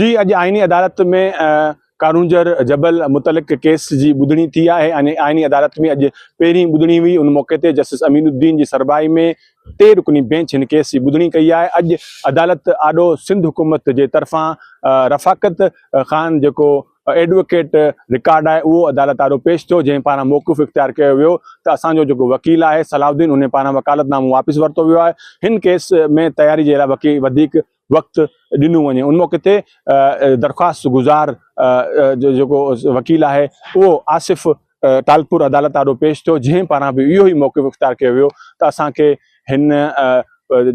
جي اڄ آئيني عدالت ۾ ڪارونجهر جبل متعلق ڪيس جي ٻڌڻي ٿي آهي ۽ آئيني عدالت ۾ اڄ پهرين ٻڌڻي هئي ان موقعي تي جسٽس امين الدين جي سربراهي ۾ ٽي رڪني بينچ هن ڪيس جي ٻڌڻي ڪئي آهي اڄ عدالت آڏو سنڌ حڪومت جي طرفان رفاقت خان جيڪو ايڊووڪيٽ رڪارڊ آهي اهو عدالت آڏو پيش ٿيو جنهن پاران موقف اختيار ڪيو ويو ته اسان جو جيڪو وڪيل آهي صلاح الدين ان پاران وڪالت نامو واپس ورتو ويو آهي هن ڪيس ۾ تياري جي لاء وڪيل وڌيڪ وقت ڏنو وڃي ان موقعي تي درخواست گذار جو جيڪو وڪيل آهي اهو آصف ٽالپور عدالت آڏو پيش ٿيو جنهن پاران به اهو ئي موقف اختيار ڪيو ويو ته اسان کي هن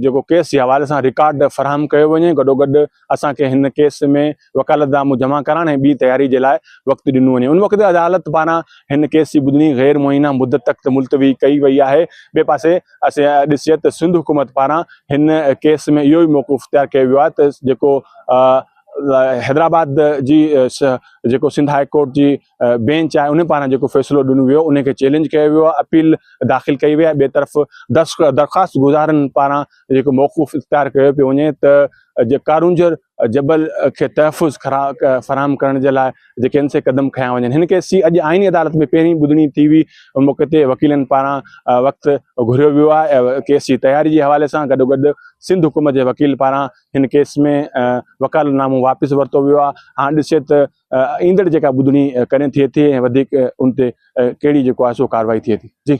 جيڪو ڪيس جي حوالي سان رڪارڊ فراهم ڪيو وڃي گڏوگڏ اسان کي هن ڪيس ۾ وڪالت نامو جمع ڪرڻ ۽ ٻي تياري جي لاء وقت ڏنو وڃي ان وقت عدالت پاران هن ڪيس جي ٻڌڻي غير معينه مدت تڪ ملتوي ڪئي وئي آهي ٻئي پاسي اسين ڏسي ته سنڌ حڪومت پاران هن ڪيس ۾ اهو ئي موقف اختيار ڪيو ويو آهي ته جيڪو حيدرآباد جي جيڪو سنڌ هاء ڪورٽ جي بينچ آهي ان پاران جيڪو فيصلو ڏنو ويو ان کي چيلينج ڪيو ويو آهي اپيل داخل ڪئي وئي آهي ٻئي طرف درخواست گذارن پاران جيڪو موقف اختيار ڪيو پيو وڃي ته جي ڪارونجهر جبل کي تحفظ فراهم ڪرڻ جي لاء جي ڪين سي قدم کنيا وڃن هن ڪيس جي اڄ آئيني عدالت ۾ پهرين ٻڌڻي ٿي هئي ان موقعي تي وڪيلن پاران وقت گهريو ويو آهي ۽ ڪيس جي تياري جي حوالي سان گڏوگڏ سنڌ حڪومت جي وڪيل پاران هن ڪيس ۾ وڪالت نامو واپس ورتو ويو آهي هاڻ ڏسجي ته ايندڙ جيڪا ٻڌڻي ڪڏهن ٿئي ٿي ۽ وڌيڪ ان تي ڪهڙي جيڪو آهي سو ڪارروائي ٿئي ٿي جي